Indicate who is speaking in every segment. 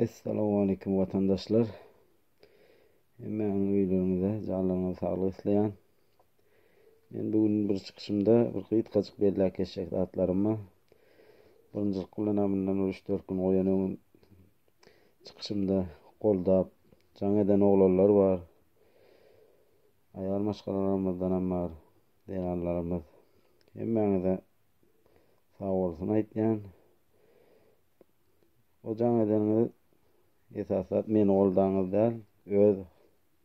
Speaker 1: Essalawmaleýkim watandaşlar. Hemmäňiz öýleriňizde janlaryňyza saglyk isleýän. Men bu gün bir çykyşymda bir gysgajyk belläp geçjek zatlarymy birinjilik bilen amyndan bir 3-4 gün goýan öňün çykyşymda goldap jaň eden oglanlar bar. Aýal maşgalalarymyzdan hem bar. Zeýranlarymyz. Hemmäňize sag bolsun aýtýan. O jaň edeniňiz esaslap meni goldaňyz däl, öz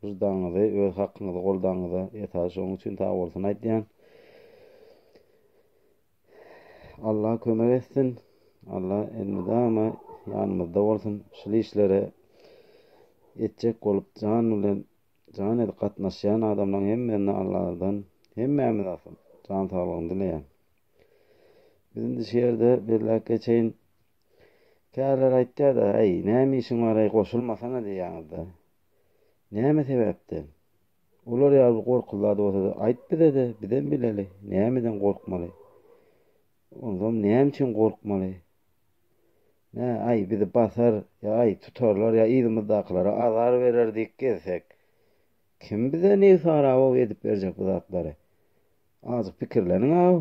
Speaker 1: wyždanyňyzy, öz hakyňyzy goldaňyza esas şoň üçin sag bolsun aýdýan. Allah kömek etsin. Allah elmydama ýanymyzda bolsun. Şul işlere etjek bolup jan bilen jan edip gatnaşýan adamlaryň hemmesine Allahdan hemmämiz asyl jan saglygyny dileýän. Biz indi şu ýerde belläp geçeýin. Käler aýtýar-da, Äý, näme işiň bar-aý, goşulmasana diýýäňiz-dä. Näme sebäpden? Olar ýaly bir gorkuly zat bolsa-da, aýt bize-de, bizem bileli, nämeden gorkmaly? Onsoň näme üçin gorkmaly? Nä, aý, bizi basar, ýa, aý, tutarlar, ýa yzymyzdakylara azar berer diýip gezsek? Kim bize Newsara-ow edip berjek bu zatlary? Azjyk pikirleniň-ow.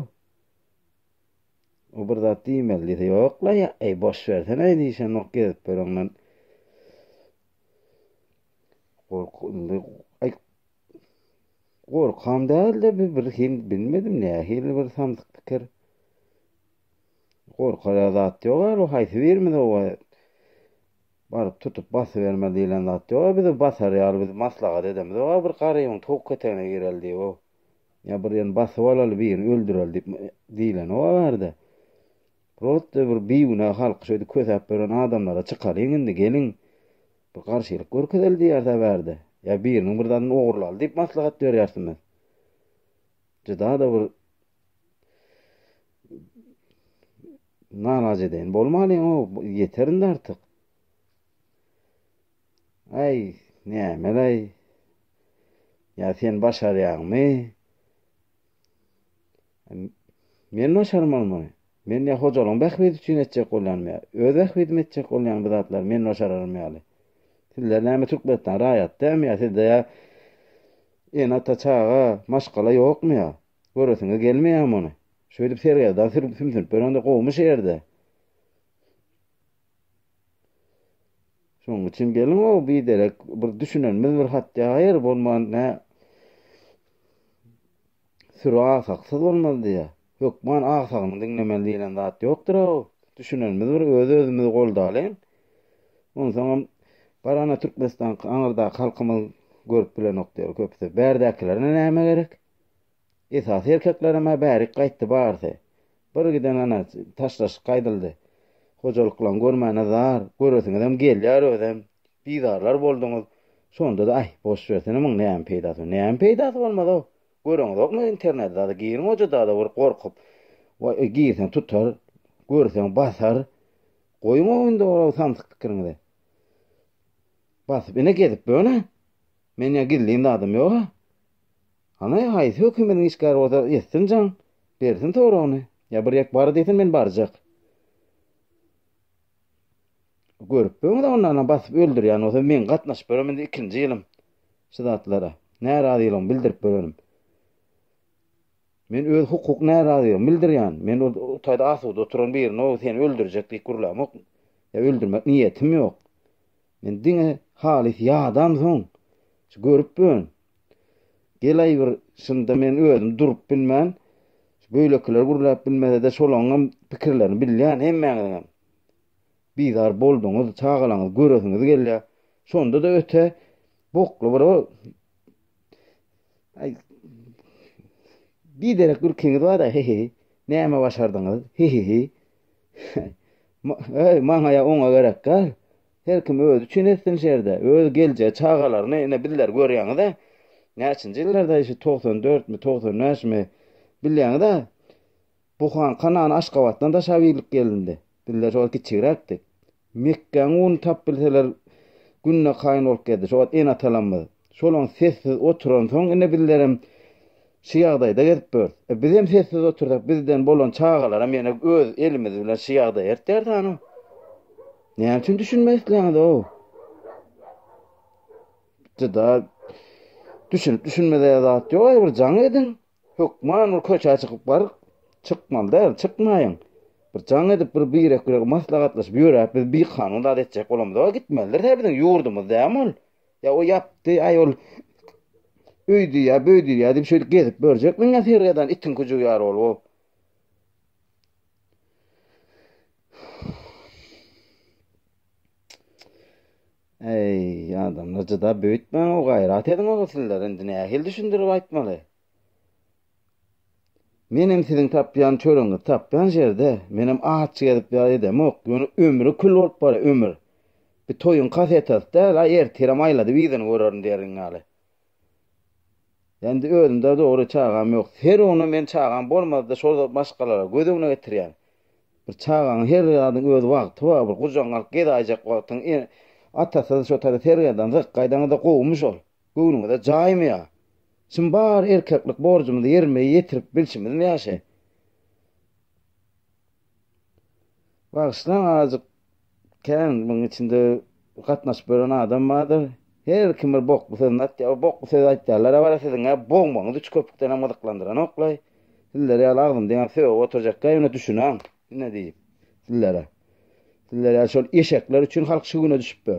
Speaker 1: O bir zat diýmeli diýse, ýok-la, ýa-eý, boş bersene-eý diýşenok gezip ýöreňden. Gork, indi, aý, gorkam däl-de, bir, bir hil, bilmedim, nähili bir samsyk pikir. Gorkara zat ýok-a, bu haýsy birimiz oba Baryp tutup basyberme diýlen zat ýok-a bizi basar ýaly biz maslahat edemizok-a bir garybyň towuk etegine gireli diýip-ow. Ýa bir ýerni basyp alaly birini öldüreli diýip diýlenok-a bärde. Prosta bir bigünä halky şeýdip kösäp beren adamlara çykalyň indi geliň bir garşylyk görkezeli diýeris-ä bärde. Ýa biriniň bir zadyny ogurlaly diýip maslahat berýärsiňiz. Juda-da bir Narac edeýin bolmalyň o ýeter indi artyk. Aý, nämelay? Ýa sen başarýaňmy? Men başarmalymy? Men ýa hojalygyň bähbidi üçin etjek bolýanmy ýa öz bähbidim etjek bolýan bu zatlar men başararym ýaly. Sizler näme Türkmenistan raýaty dämi ýa sizde ýa ene ata çaga maşgala ýokmy ýa? Göresiňe gelmeýär muny. Şöýdüp sergezdan sürüp sümsünip ýörende gowumy şu ýerde? Şoň üçin geliň o biderek bir düşünenimiz bir hat ýaýyr bolman nä süri agsaksyz bolmaz diýýär. Hökman agsagyny diňlemeli diýlen zat ýokdur o. Düşünenimiz bir öz-özümizi goldalyň. Onsoňam Garana Türkmenistan aňyrdaky halkymyz görüp bilenok diýer köpüsi. Bärdäkilerine näme gerek? Esasy erkeklerem-ä bärik gaýtdy barysy. Bir giden ana taşlaşyk gaýdyldy. Hojalyklaň görmäne zar, göresiňizem gelýär özem. Bizarlar bolduňyz. Şonda-da aý, boş bersene muň näme peýdasy, näme peýdasy bolmaz-ow. Göreňizokmy interneti zady, giriň ojadada bir gorkup. Waý, girseň tutar, görseň basar. Goýuň-ow indi ol samsyk pikiriňizi. Basyp ine gezip böne. Men ýa gizlin zadym ýog-a. Hany, haýsy hökümediň işgäri bolsa ýetsin jaň, bersin soragyny. Ýa bir ýek bar diýsin, men barjak. Görüp böň-ä onda, ana, basyp öldürýän bolsa, meň gatnaşyp ýören indi ikinji ýylym şu zatlara. Närazylygymy bildirip ýörenim. Men öz hukuk närazylygymy bildirýän. Men ol taýda asuda oturan birine, o seni öldürjek diýip gürlämok. Ýa öldürmek niýetim ýok. Men diňe halys ýadam soň, şu görüp bön. Gelaý bir şunda men özüm durup bilmän, şu böýlekiler gürläp bilmesede şolaňňam pikirlerini bilýän hemmäňiziňem. Bizar bolduňyz, çagalaňyzy göresiňiz gelýär. Şondada öte bokly bir o Aý biderek gülkiňiz bar-da, heheý. Näme başardyňyz, heheý. Heý, maňa-ýa oňa gerek däl. Her kim özi üçin etsin şerde. Öz geljek çagalaryny ine bizleri görýäňiz-ä. Näçinji ýyllarda şu togsan dörtmi, togsan bäşmi, bilýäňiz-ä, bu han Kanan Aşgabatdan daşa birlik gelindi. Bizler şol kiçigräkdik. Mekgäň uny tap bilseler günde kaýyn bolup gezdi şo wagt ene-atalamyz. Şolam sessiz oturansoň ine bizlerem şu ýagdaýda gezip börs. E bizem sessiz otursak bizden bolan çagalaram ýene öz elimiz bilen şu ýagdaýa ertdäris hany. Näme üçin düşünmek isleýäňiz-ow? Juda düşünip düşünmezä zat ýok aýbir jaň ediň. Hökman bir köçä çykyp baryk. Çykmaly däl, çykmaýyň. Bir jaň edip, bir birek-birege maslahatlaşyp ýöräp, biz bikanun zat etjek bolamyzok-a, gitmelidiris, hä, biziň ýurdumyz dämi ol? Ýa o ýapdy, aý, ol öýdýär, böýdýär diýip, şeýdip gezip ýörjekmiň, ýa sergä eden itiň kujugy ýaly bolup, o? Eý, adamlar jyda büýütmäň-ow gaýrat ediň-ow sizler indi nähili düşündirip aýtmaly? Menem siziň tapýan çöregiňizi tapýan ýerde, menem aç gezip ýar edemok, ýöne ömri kül bolup barýa ömür. Bir toýuň kasetasy däl-a ertirem aýladyp yzyny görerin diýerin ýaly. Indi özümde dogry çagam ýok. Her güni men çagam bolmazda şol maşgalara göz öňüne getirýän. Bir çagaň her zadyň öz wagty bar. Bir gujagyňy alyp gezaýjak wagtyň atasyz şo tada sergerdan zyk gaýdaňyzda gowumy şol? Göwnüňize jaýmy ýa? Şum bar erkeklik borjumyzy ýerime ýetirip bilşimizmi ýa şe? Bagyşlaň azajyk kän muň içinde gatnaşyp ýören adam bardyr. Her kim bir bokly sözüni atýar. O bokly sözi aýtýanlar a bar a siziňä bogmagyňyz üç köpükdenem gyzyklandyranokly. Sizler ýaly agzym diňäp sögüp oturjakka ýöne düşünäň ine diýip sizlere. Sizler ýaly şol eşekler üçin halk şu güne düşüp be.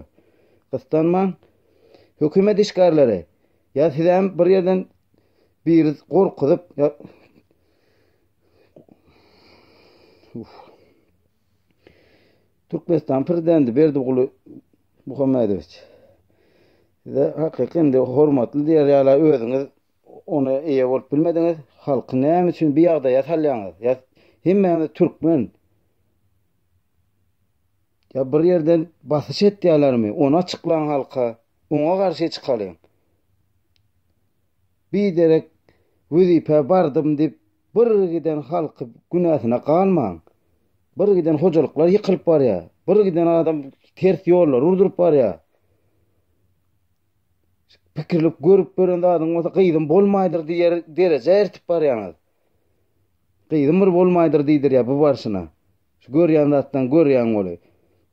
Speaker 1: Gyssanmaň. Hökümet işgärleri ýa sizem bir ýerden biri gorkuzyp ýa Türkmenistan prezidenti Berdimuhamedoviç Muhammedoviç size hakyky indi hormatly diýer ýaly özüňiz ona eýe bolup bilmediňiz. Halky näme üçin bu ýagdaýa salýaňyz? Ýa hemmämiz türkmen. Ýa bir ýerden basyş etýärlermi? Ony açyklaň halka. Oňa garşy çykalyň. Biderek wezipä bardym diýip, bir giden halky günäsine galmaň. Bir giden hojalyklar ýykylyp barýar. Bir giden adam ters ýollary urduryp barýar. Pikirlip görüp gören zadyň bolsa gyzym bolmaýdyr diýer derejä eltip barýaňyz. Gyzym bir bolmaýdyr diýdirýär bu barşyna. Şu görýän zatdan görýäň weli.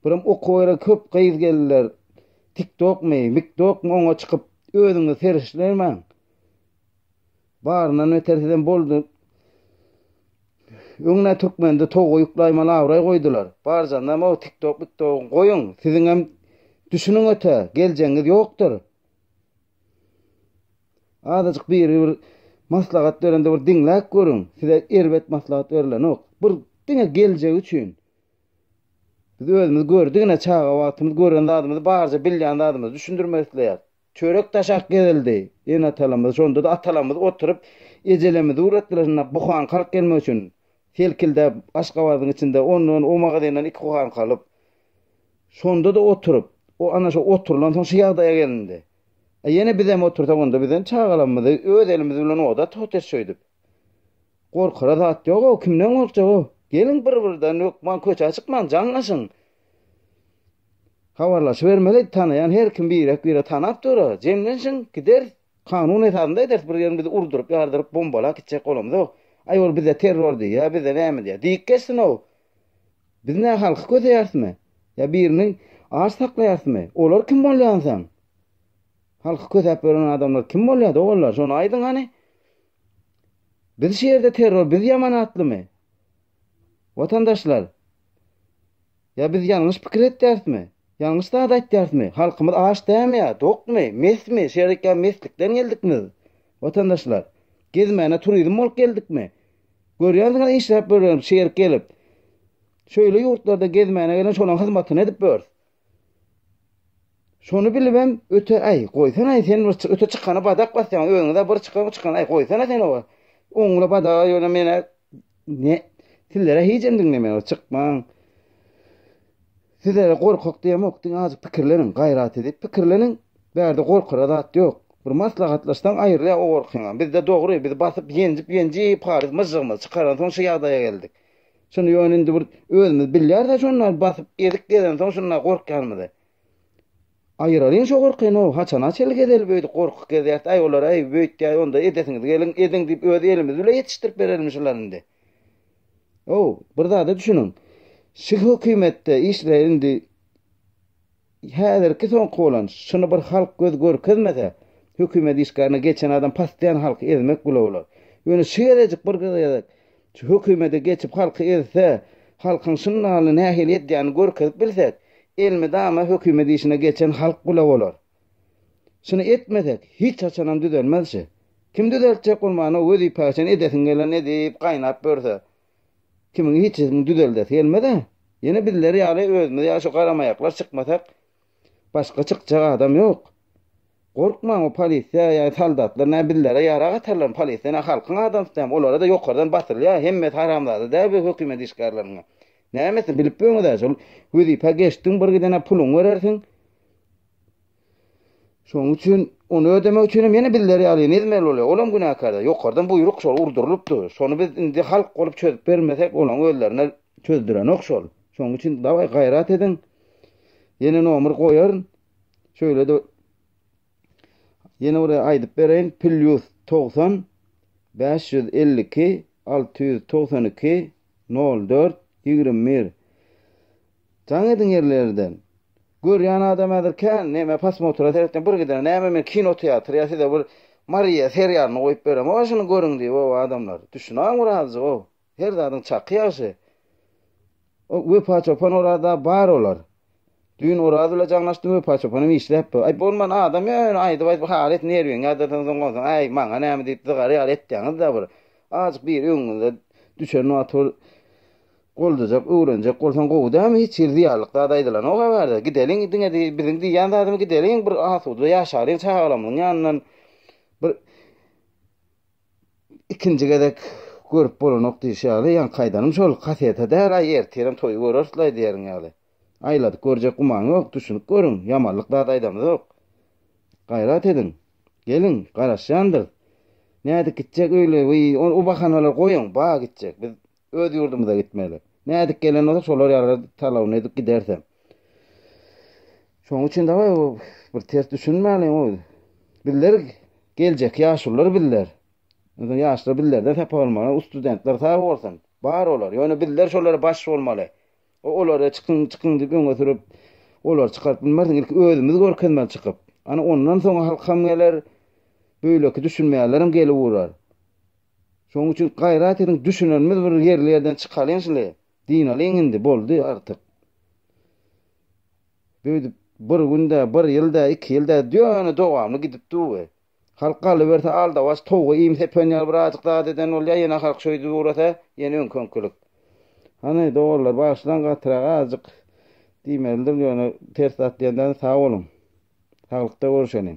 Speaker 1: Birem okuwa gelen köp gyz geldiler. Tiktokmy, miktokmy oňa çykyp özüňizi serişdirmäň. Baryndan beter sizem boldy. Öňne türkmende toga ýuklaýmaly abraý goýdular. Barjanda o tiktok miktogy goýuň. Siziňem düşüniň öte geljegiňiz ýokdur. Azajyk biri bir maslahat berende bir diňläp görüň. Size erbet maslahat berilenok. Bir diňe geljek üçin. Biz özümiz gördügine çaga wagtymyz gören zadymyzy barja bilýän zadymyzy düşündirmek isleýäris. Çörek daşak gezildi. Ene-atalarymyz, şonda-da atalarymyz oturyp ejelerimizi ugratdylar şunda buhan kalk gelmek üçin. Selkildäp, Aşgabadyň içinde ondan, o magazindan iki kuhanka alyp, şonda-da oturyp, o ana şo oturylansoň şu ýagdaýa gelindi. A ýene bizem otursak, onda bizem çagalarymyzy öz elimiz bilen oda tutys şöýdüp. Gorkara zat ýog-ow, kimden gorkjag-ow? Geliň bir-birden, hökman köçä çykmaň, jaňlaşyň. Habarlaşybermeli, tanaýan her kim birek-biregi tanap dur-a. Jemlenşiň, gideris. Kanun esasynda ederis, bir ýerini biz urduryp, ýardyryp, bombalap gitjek bolamyzok. Aý, ol bize terror diýýä, bize näme diýýä. Diýip geçsin-ow. Biz nä halky köseýärismi? Ýa birini aç saklaýarysmy? Olar kim bolýar onsoň? Halky kösäp ýören adamlar kim bolýar, doganlar, şony aýdyň hany? Biz şu ýerde terror, biz ýaman atlymy? Watandaşlar, ýa biz ýalňyş pikir etýärismi? Ýalňyş zat aýtýarismi? Halkymyz aç dämi ýa, dokmy, mesmi, şerik ýa meslikden geldikmiz? Watandaşlar, gezmäne turizm bolup geldikmi? Görýänsiňiz işläp ýörüberiň, şerik gelip. Şeýle ýurtlarda gezmäne gelen şolaň hyzmatyny edip ýörüs. Şony bilibem öte aý goýsanaý sen bir öte çykana badak basýaň özüňde bir çykan bir çykan aý goýsana sen owa oňňula badaga ýöne mena ne sizlere hijem diňlemeýär çykmaň sizlere gorkak diýemok diňe azajyk pikirleniň gaýrat edip pikirleniň bärde gorkara zat ýok bir maslahatlaşsaň aýrylýar o gorkyňam bizde dogry biz basyp ýenjip ýenjip haryt myžžygymyzy çykaran soň şu ýagdaýa geldik. Şunda ýöne indi bir özümiz bilýäris-ä şonda basyp ezik gezensoň şunda gorkýanymyzy. Aýyralyň şo gorkyny-ow, haçana çenli gezeli beýdip gorkuk gezýäris, aý olar aý beýtýäý onda edesiňiz geliň ediň diýip öz elimiz bile ýetişdirip berelimi şulary indi. Ow, bir zada düşüniň. Şu hökümetde işleýän indi. Häzirki soňky bolan şuny bir halk göz görkezmese hökümet işgärine geçen adam paslyan halky ezmek bula bolar. Ýöne şu gezejik bir gezek şu hökümede geçip halky ezse halkyň şundaly nähili edýänini görkezip bilsek elmydama hökümet işine geçen halk bula bolar. Şuny etmesek hiç haçanam düzelmez şu. Kim düzeltjek bolmana wezipäşen edesiň gelenini edip gaýnap ýörse. Kimiň hiç zedini düzeldesi gelmez-ä. Ýene bizler ýaly özümiz ýaly şu garamaýaklar çykmasak, başga çykjak adam ýok. Gorkmaň o polisiýa ýa soldatlar nä bizlere ýarag atarlarmy, polisiýa nä halkyň adamsy dämi, olara da ýokardan basylýar, hemmesi haramzada däl bu hökümet işgärleriniň. Nämesi bilip ýöňüz-ä şol wezipä geçdiň bir gidene puluňy berersiň, Şonuň üçin ony ödemek üçin hem ýene bizler ýaly nizmeli bolýar. Olam günäkärdir. Ýokardan buýruk şol urdurylypdy. Şony biz indi halk bolup çözüp bermesek olaň özlerine çözdürenok şol. Şonuň üçin dawaý gaýrat ediň. Ýene nomer goýaryn. Şöýlede ýene bir aýdyp bereýin. Plýus 90 552 692 04 21 Jaň ediň ýerlerden. Görýän adam häzir kän neme posmotra seretýän bir gidene näme men kino teatr ýa size bir Mariýa seriýalyny goýup berem howa şuny görüň diýip ow adamlar düşünaň bir azjyk ow her zadyň çaky ýagşy o Wepa çopan Oraz da bar olar düýn Oraz bile jaňlaşdym Wepa çopan hem işläpdi aý bolman adam ýa ýöne aýdyp aýdyp hal et nerwiňi ýadyrsaň soň onsoň aý maňa näme diýip zygary ýaly etýäňiz da bir azjyk biri öňüňize düşen wagt bir Goldajak öwrenjek bolsaň gowy dämi hiç hili zyýanlyk zat aýdylanok a bärde gideliň diňe biziň diýýän zadymy gideliň bir asuda ýaşalyň çagalamyň ýanyndan bir ikinji gezek görüp bolanok diýşi ýaly ýaňy kaýdanym şol kaseta däl aý ertirem toýy görersle aýdýaryň ýaly aýladyk görjek gumany ýok düşünip görüň ýamanlyk zat aýdamyzok gaýrat ediň geliň garaşýandyrys nädip gitjek öýle wiý o bahanalar goýuň ba gitjek biz Öz ýurdumyza gitmeli. Nädip gelen bolsa şolar ýaly talabyny edip gidersem. Şoň üçin daway bir ters düşünmäliň o. Bizler geljek ýaşulylar bizler. Öňe ýaşlar bizlerden sapa bolmaly. O studentler sag bolsun. Bar olar. Ýöne bizler şolara baş bolmaly. O olary çykyň çykyň diýip öňe sürüp olary çykaryp bilmersiň. Ilki özümiz görkezmeli çykyp. Ana ondan soň halkam geler. Beýleki düşünmeýänlerem gelip urar. Şoň üçin gaýrat ediň düşünenimiz bir ýerli ýerden çykalyň şle dynalyň indi boldy artyk beýdip bir gün dä bir ýyl dä iki ýyl dä ýöne dowamly gidip dur we halk galyberse aldawaç towga iým sepen ýaly bir ajyk zat eden bolýa ýene halk şöýdip ugrasa ýene öňki öňkilik hany doganlar bagyşlaň gatyrak azjyk diýmelidir ýöne ters zat diýenden sag boluň saglykda görüşeliň.